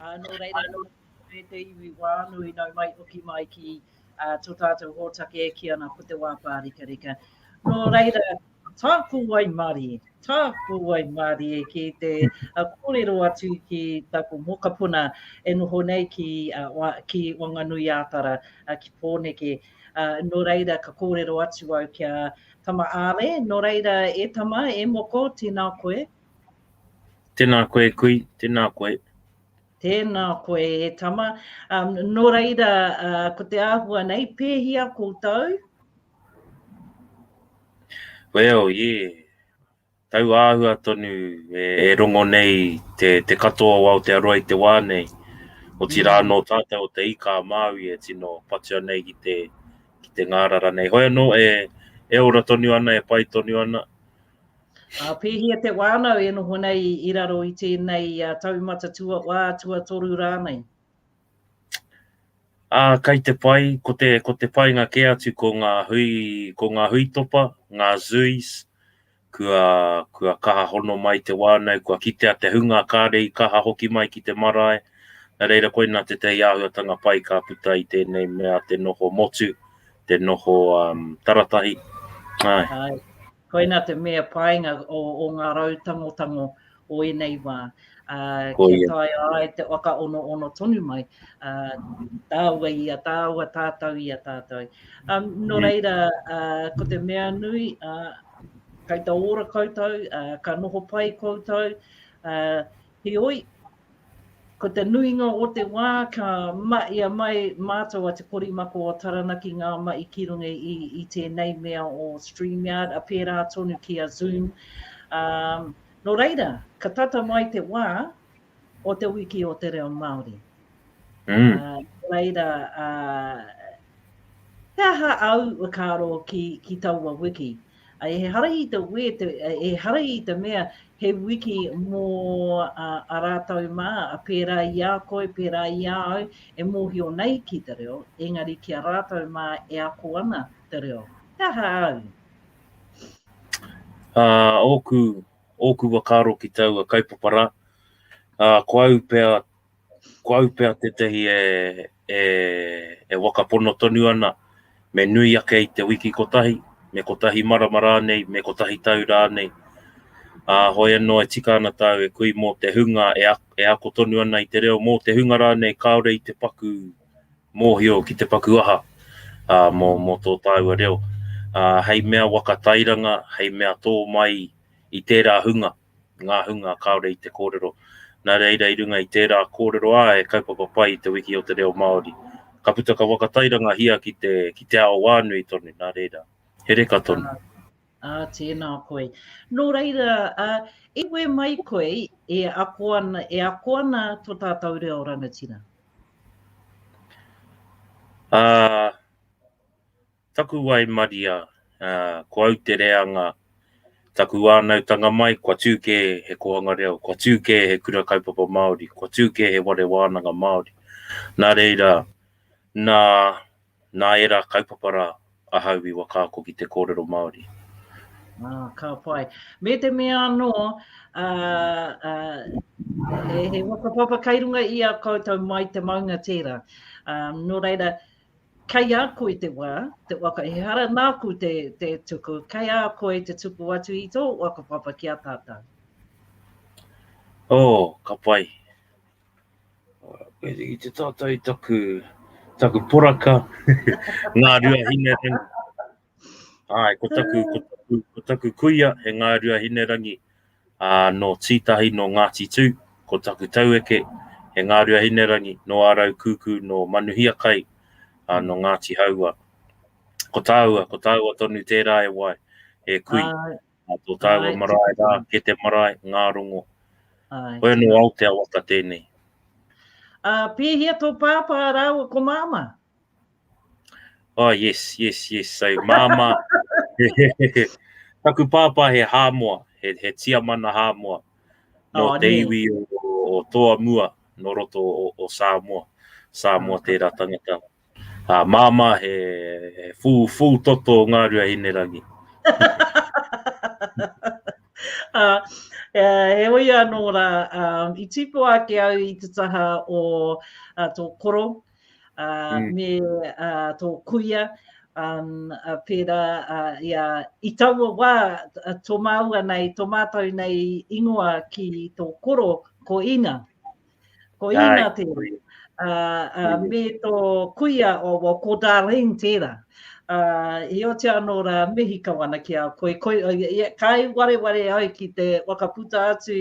Uh, nō reira, nō reira te iwi wānui nau mai oki mai ki uh, tō tātou hōtake e ki ana ko te wā pārikarika. Nō reira, tā ko wai mārie, tā ko wai mārie ki te uh, kōrero atu ki tāku mokapuna e noho nei ki, uh, wa, ki Wanganui Ātara, uh, ki Pōneke. Uh, nō reira, ka kōrero atu au kia tama āre, nō reira e tama, e moko, tēnā koe, Tēnā koe e kui, tēnā koe. Tēnā koe e tama. Um, nō reira, uh, ko te āhua nei, pēhia koutou? Well, yeah. Tau āhua tonu e, e rongo nei te, te katoa o Aotearoa i te wā nei. O ti rā mm. nō tātou o te ika a Māui e tino patua nei ki te, ki te ngārara nei. Hoi anō, e, e ora tonu ana, e pai tonu ana. Ā, pēhea te wānau e noho nei i raro i tēnei taumata tuawhā, tuatoru rānei? Ā, kei te pai, ko te, ko te painga kē atu ko ngā hui, ko ngā hui topa, ngā zoos, kua, kua kaha hono mai te wānau, kua kitea te hunga, kāre i kaha hoki mai ki te marae, nā reira koinā tētahi āhuatanga pai ka puta i tēnei mea te noho motu, te noho um, taratahi. Āe. Āe. Koina te mea painga o, o ngā rau tangotango o ēnei wā. Uh, kia yeah. tae ai te waka ono ono tonu mai, uh, tāua i a tāua, tātou i a tātou. Um, no yeah. reira, uh, ko te mea nui, uh, kai ta ora koutou, uh, ka noho pai koutou, uh, heoi, Ko te nuinga o te wā ka mahia mai mātou a Te Korimako o Taranaki ngā mahi ki runga i tēnei mea o StreamYard, a pērā tonu ki a Zoom. Nō reira, ka tata mai te wā o te wiki o te reo Māori. Nō reira, he aha au, whakaaro ki taua wiki? Ehara i te wē, ehara i te mea he wiki mō a rātou mā, pērā i a koe, pērā i a au, e mōhio nei ki te reo, engari ki a rātou mā e ako ana te reo. He aha au? Ōku, ōku whakaaro ki taua kaupapa rā, ko au pea ko au pea tētahi e, e, e wakapono tonu ana, me nui ake i te wiki kotahi, me kotahi marama rānei, me kotahi tau rānei. Ā, hoi anō e tika ana tāu e kui mō te hunga e, a, e ako tonu ana i te reo, mō te hunga rānei kāore i te paku mōhio ki te paku aha, ā, mō, mō tō tāua reo. Ā, hei mea waka tairanga, hei mea tō mai i tērā hunga. ngā hunga kāore i te kōrero. Nā reira i runga i tērā kōrero ā he kaupapa pai i te wiki o te reo Māori. Ka puta ka whakatairangahia ki te, ki te ao wānui tonu, nā reira, he reka tonu. Ā, tēnā koe. Nō reira, ā, i wē mai koe e ako ana, e ako ana to tātou reo rangatira? Ā, Taku waimaria, ā, ko au te reanga, taku whānautanga mai, kua tū kē he kōhanga reo, kua tū kē he kura kaupapa Māori, kua tū kē he whare wānanga Māori. Nā reira, nā, nā ērā kaupapa rā ahau i whakaako ki te kōrero Māori. Ā, ka pai. Me te mea anō, ā, ā, he, he whakapapa kei runga i a koutou mai te maunga tērā. Ā, nō reira, Kei a koe te wā, te waka ehara nāku te tuku, kei a koe te tuku atu i tō whakapapa ki a tātou. Oh, ka pai. I te tātou i taku poraka, ngā ruahine. Āe, ko taku, ko taku, ko taku kuia, he ngārua hinerangi, ā, nō Tītahi, nō Ngāti Tū, ko taku taueke, he ngārua hinerangi, nō Ārau Kūkū, nō Manuhiakai, ā, nō Ngāti Haua. Ko tāua, ko tāua tonu tērā e wai, e kui. Ai. Ā, tō tāua Ai. marae rā, ke te marae, ngā rongo. Ai. Koe anō Aotea waka tēnei. Ā, pēhea tō pāpā rāua ko māmā? Oh, yes, yes, yes. So, māmā, taku pāpā he hāmoa, he, he tiamana hāmoa, no oh, te iwi o, o toa mua, no roto o, o Samoa. Samoa oh, tērā tangata. Uh, māmā he, he fū, fū toto o Ngārua Hinerangi. uh, Uh, he oi anō rā, um, i tīpo ake au i te taha o uh, tō koro, me tō kuia, pērā i taua wā tō māua nei, tō mātou nei ingoa ki tō koro ko Ina. Ko Ina tērā. Me tō kuia, ko Darlene tērā. I oti anō rā, mihi kau ana ki a koe. Kai wareware au ki te whakaputa atu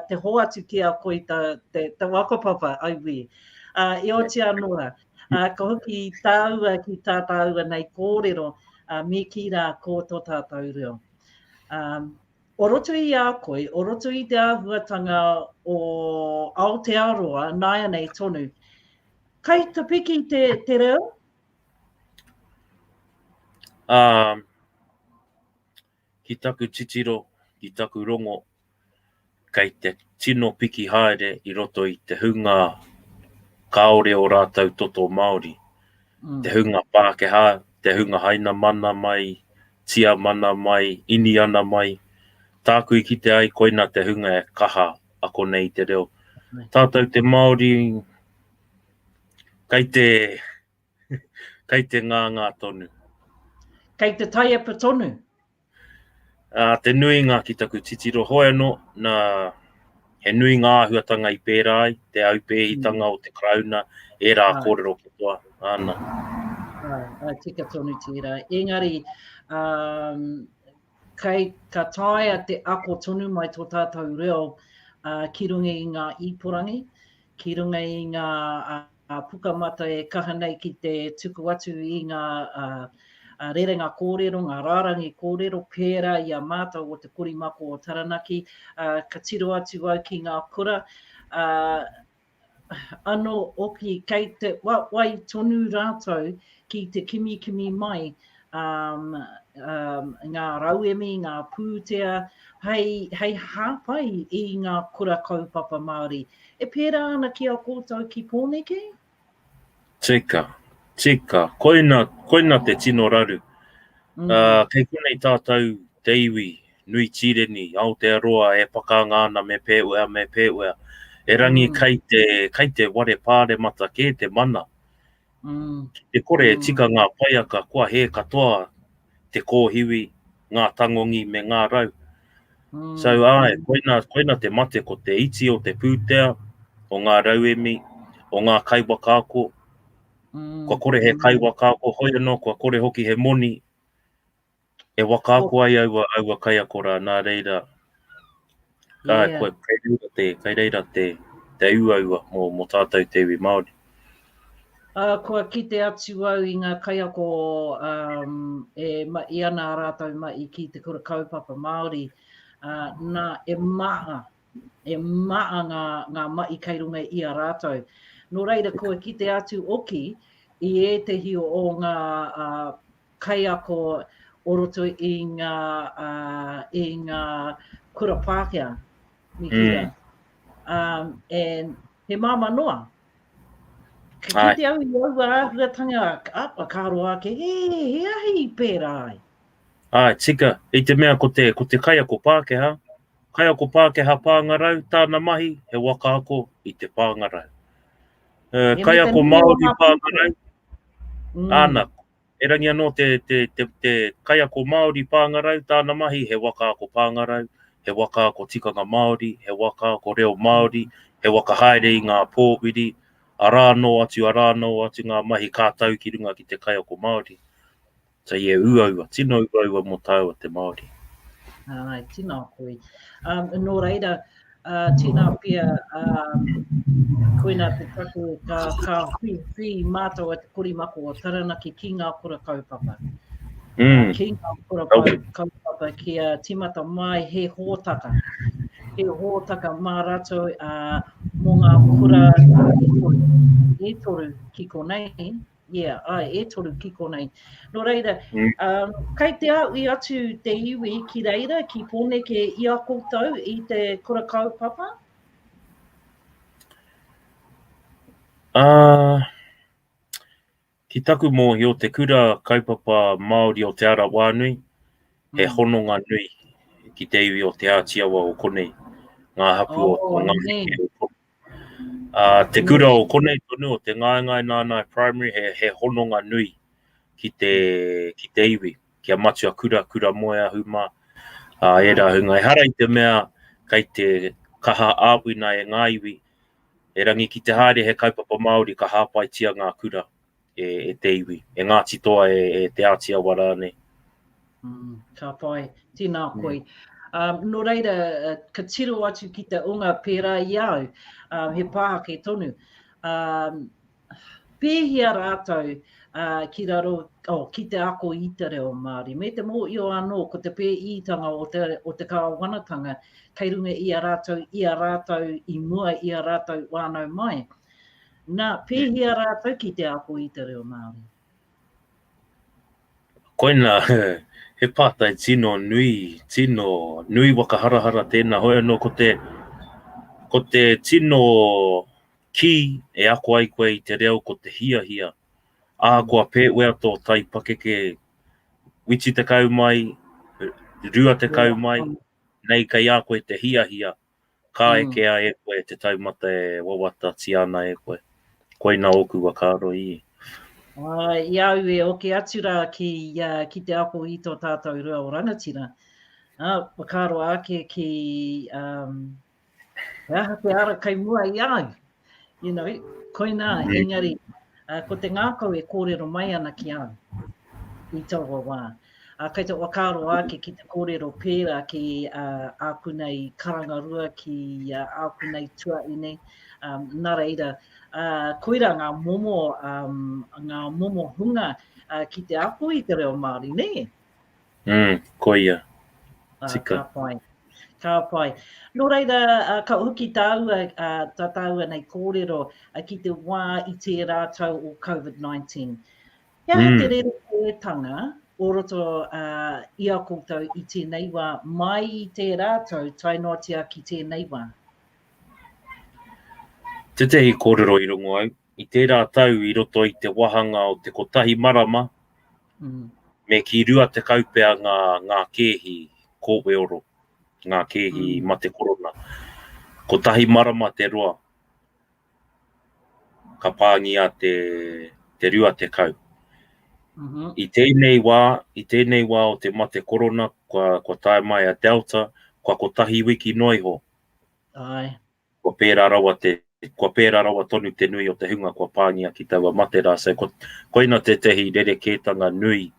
te hoatu ki a koe te waka papa, I will. Ā, i oti anō rā, ā, ka hoki tāua ki tā tāua nei kōrero, ā, me kī rā, Ko tō tātou reo. Ā, o roto i a koe, o roto i te āhuatanga o Aotearoa, nāianei tonu, kai te piki te, te reo? Um, Ki taku titiro, ki taku rongo, kei te tino piki haere i roto i te hunga kāore ō rātou toto Māori, te hunga Pākehā, te hunga Hainamana mai, Tiamana mai, Iniana mai, tāku i kite ai koina te hunga e kaha ako nei i te reo. Tātou te Māori, kei te. Kei te ngāngā tonu. Kei te taiapa tonu. Ā, te nuinga ki taku titiro hoi anō, nā, he nui ngā āhuatanga i pērā ai, te aupēhitanga o te Karauna, ērā Āe. kōrero katoa, āna. Āe, āe, tika tonu tērā. Engari, ā, kei, ka taea te ako tonu mai tō tātou reo ā, ki runga i ngā iporangi, ki runga i ngā, ā, Pukamata e kaha nei ki te tuku atu i ngā rerenga kōrero, ngā rārangi kōrero pērā i a mātou o te Korimako o Taranaki. Ka tiro atu au ki ngā kura, anō hoki kei te wai tonu rātou ki te kimikimi mai ngā rauemi, ngā pūtea hei hāpai i ngā kura kaupapa Māori. E pērā ana ki a koutou ki Pōneke? Tika, tika, koina, koina te tino raru. Ā, kei konei tātou te iwi nui tīreni, Aotearoa e pakanga ana me Pēwea, me Pēwea. Erangi kai te, kai te ware pāremata kē te mana Ki te kore e tika ngā paiaka kua hē katoa te kōhiwi, ngā tangongi me ngā rau. So, āe, koina, koina te mate ko te iti o te pūtea, o ngā rauemi, o ngā kaiwakaako, kua kore he kaiwakaako, hoi anō kua kore hoki he moni, E waka ako ai aua, aua kaiako rā, nā reira, ka, yeah. kua, kei reira te, kei reira te, te uaua mō, mō tātou te iwi Māori. Uh, kua kite atu au i ngā kaiako um, e ma i ana a rātou ma i ki te kura kaupapa Māori, uh, nā e maa, e maa ngā, ngā ma i kei runga i a rātou. Nō reira kua kite atu oki i ētehi o ngā uh, kaiako o roto i ngā, ā, i ngā kura Pākehā, me kīia. Um, and he māmā noa. Ka Ai. kite au i aua āhuatanga, apa ka roa ake, he, he ahi i pērā ai. Ai, tika, i te mea ko te, ko te kaiako Pākehā, kaiako Pākehā pāngarau, tāna mahi, he waka ako i te pāngarau. Uh, He mea kaiako te nui o Māori ngā pāngarau, pūtea. Mm. āna, Erangi anō te, te, te, te kaiako Māori pāngarau, tāna mahi he waka ako pāngarau, he waka ako tikanga Māori, he waka ako reo Māori, he waka haere i ngā pōwhiri, arā anō atu, arā anō atu ngā mahi ka tau ki runga ki te kaiako Māori. So yeah, uaua, tino uaua mō tāua te Māori. Āe, tino ako i. Um, nō reira, Ā, tēnā pea, ā, koinā te take ka, ka whi, whi mātou a te korimako o Taranaki ki ngā kura kaupapa. Mm. Ki ngā kura kaupapa ki a timata mai he hōtaka. He hōtaka mā ratou ā, mō ngā kura e toru, e toru ki konei, Ia, ai, e toru ki konei. Nō reira, um, kei te aui atu te iwi ki reira, ki Pōneke, i a koutou, i te kura kaupapa? Uh, ki taku mōhio, te kura kaupapa Māori o Te Ara Wānui, he mm. hononga nui ki te iwi o Te Ātiawa o konei, ngā hapu oh, o Ngāheke, Uh, te kura o konei tonu o te ngaengae nānai primary he, he hononga nui ki te, ki te iwi, ki a matua kura, kura moe a huma, uh, e rā hunga. E hara i te mea kei te kaha āwina e ngā iwi, e rangi ki te haere he kaupapa Māori ka hāpaitia ngā kura. e, e te iwi, e Ngāti Toa, e, e Te Āti Awa rānei. Mm, ka pai, tēnā mm. koi. Mm. Um, nō reira, uh, ka tiro atu ki te unga pērā i au, um, he pāhake tonu. Um, pēhia rātou uh, ki raro, oh, ki te ako i te reo Māori. Me te mō i o anō, ko te pēitanga o te, o te kāwanatanga, kei runga i a rātou, i a rātou, i mua i a rātou wānau mai. Na, pēhea rātou ki te ako i te reo Māori? Koina, he pātai tino nui, tino nui waka harahara tēnā, hoi anō ko te, ko te tino kī e ako ai koe i te reo ko te hiahia, ahakoa pēwea tō tai pakeke, witi tekau mai, rua tekau mai, nei kei a koe te hiahia, Ka eke a e koe te taumata e wawata tia ana e koe. Koina oku wakaaro i. Ae, i a au e oke atu ra ki ia, ki te ako i to tatou rua o rangatira. A, wakaaro ake ki, um, he aha te ara kei mua i a au? You know, koinā, engari, uh, ko te ngākau e kōrero mai ana ki au i taua wā. Uh, kei te wakaaro ake ki te kōrero pērā ki uh, āku nei karangarua, ki uh, āku nei tuaine, um, nā reira, uh, koira ngā momo, um, ngā momo hunga uh, ki te ako i te reo Māori, nē? Mm, koia. Ah, Tika. Ka pai. Ka pai. Nō reira, uh, ka hoki tāua, uh, tā tāua nei kōrero uh, ki te wā i tērā tau o COVID-19. He aha mm. te rere kōretanga o roto uh, i a koutou i tēnei wā, mai i tērā tau, tai noatia ki tēnei wā? Tētehi kōrero i rongo au, i tērā tau i roto i te wāhanga o te kotahi marama, me ki rua tekau pea ngā, ngā kēhi kōweoro, ngā kēhi mate korona. Kotahi marama te roa, ka pāngia te, te rua tekau. Mm-hmm. I tēnei wā, i tēnei wā o te mate korona, kua, kua tae mai a Delta, kua kotahi wiki noa iho. Ai. Kua pērā rawa te, kua pērā rawa tonu te nui o te hunga kua pāngia ki taua mate rā, so koina tētahi rerekētanga nui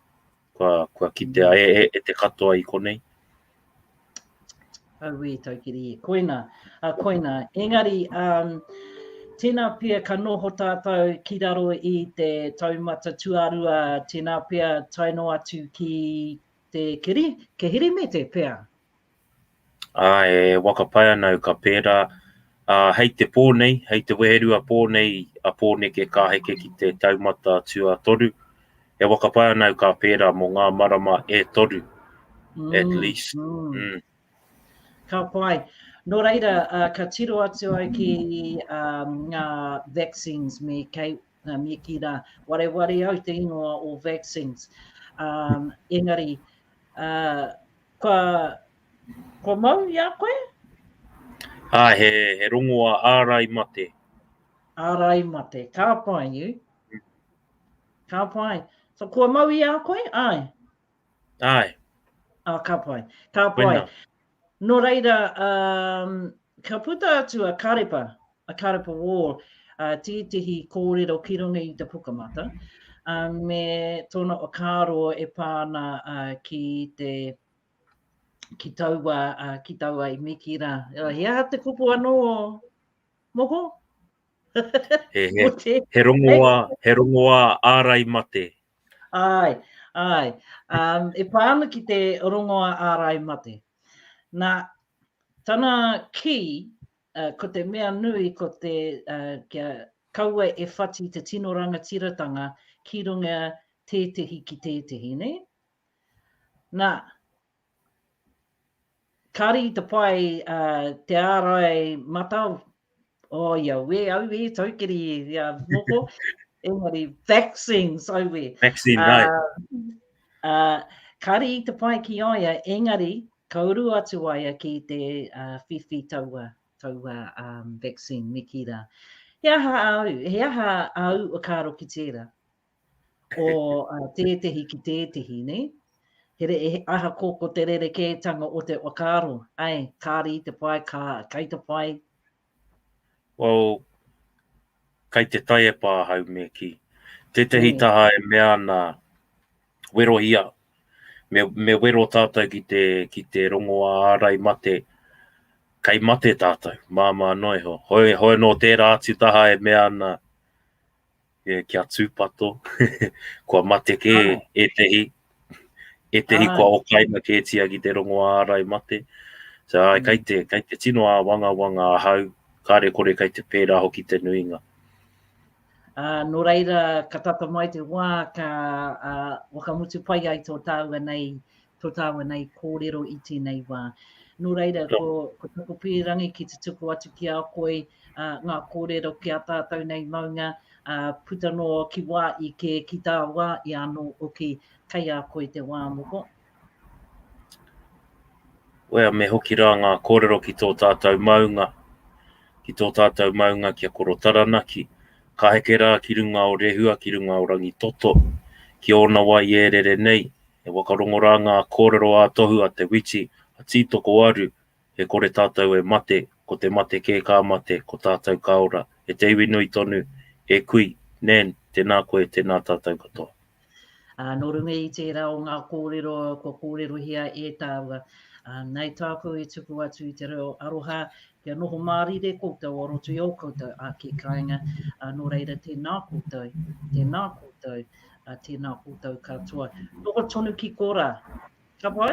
kua, kua kitea e, e, e te katoa i konei. Auē, Taukiri, koina, uh, koina. Engari, um, tēnā pia ka noho tātou ki raro i te taumata tuarua, tēnā pia taino atu ki te kiri, ke hiri me te pia. ā, e waka pai ana au ka pērā, ā, hei te pō nei, hei te weherua pō nei a Pōneke ka heke ki te taumata tuatoru, e waka pai ana au ka pērā mō ngā marama e toru, at least. Ka pai. Nō reira, ka tiro atu au ki ngā vaccines me kei, Nā Miki rā, wareware au te ingoa o vaccines. Um, engari, uh, kua, kua mau i a koe? Ā, he, he rongoa ārai mate. Ārai mate, ka pai i. Mm. Ka pai. So, kua mau i a koe? Ai. Ai. Ā, ka pai. Ka pai. Wena. Nō reira, um, ka puta atu a Karepa, a Karepa Wall, uh, tētehi kōrero ki runga i te pukamata, uh, me tōna whakaaro e pāna uh, ki te ki taua, uh, ki taua i miki rā. He aha te kupu anō, moko? he, he, he, rongoa, he rongoa ārai mate. Āe, āe. Um, e pā ana ki te rongoa ārai mate. Nā, tana kī, uh, ko te mea nui, ko te uh, kia kaua e whati te tino rangatiratanga ki runga tētehi ki tētehi, ne? Nā, Kāre i te pai te ārai mata o ia we, auē, taukiri ia moko, engari vaccines, auē. Vaccine, right. Kāre i te pai ki a ia, engari, ka uru atu a ia ki te whiwhi taua, taua vaccine, me ki rā. He aha au, he aha au o kāro ki tērā? o tētehi ki tētehi, nē? Ahakoa ko te rerekētanga o te whakaaro, āe, kāre i te pai, kā, kai te pai? Well, kai te taiepa ahau me kī. Tētehi taha e mea ana, werohia, me, me wero tātou ki te, ki te rongoā ārai mate, kai mate tātou, māmā noa iho. Hoi, hoi no tērā atu taha e mea ana, Yeah, kia tūpato. kua mate kē oh. ētehi. Ētehi oh. kua okaina kētia ki te rongo ārai mate. So, ai, mm. kai, te, kai te tino a wanga wanga ahau, kāre kore kai te pērā hoki te nuinga. Uh, nō reira, ka tata mai te wā, ka uh, wakamutu pai ai tō tāua nei to taua nei kōrero i tēnei wā. Nō reira, ko, ko taku pīrangi ki te tuku atu ki a koe uh, ngā kōrero ki a tātou nei maunga, uh, puta no ki wā i kē, ki tā wā i anō oki, kei a koe te wā moko. Wea, me hoki rā ngā kōrero ki tō tātou maunga, ki tō tātou maunga ki a Koro Taranaki, ka heke rā ki runga o Rehua, ki runga o Rangi Toto, ki ōna wai ērere nei, He wakarongo rā ngā kōrero ā-tohu a Te Witi, a Tītokowaru, E kore tātou e mate, ko te mate kē ka mate, ko tātou ka ora, e te iwi nui tonu, e kui, Nan, tēnā koe, tēnā tātou katoa. Ā, nō runga i tērā o ngā kōrero kua kōrerohia e tāua, ā, nei tāku e tuku atu i te reo aroha Kia noho mārire koutou o roto i ō koutou ake kāinga, nō reira tēnā koutou, tēnā koutou, tēnā koutou katoa. Noho tonu ki korā. Ka pai?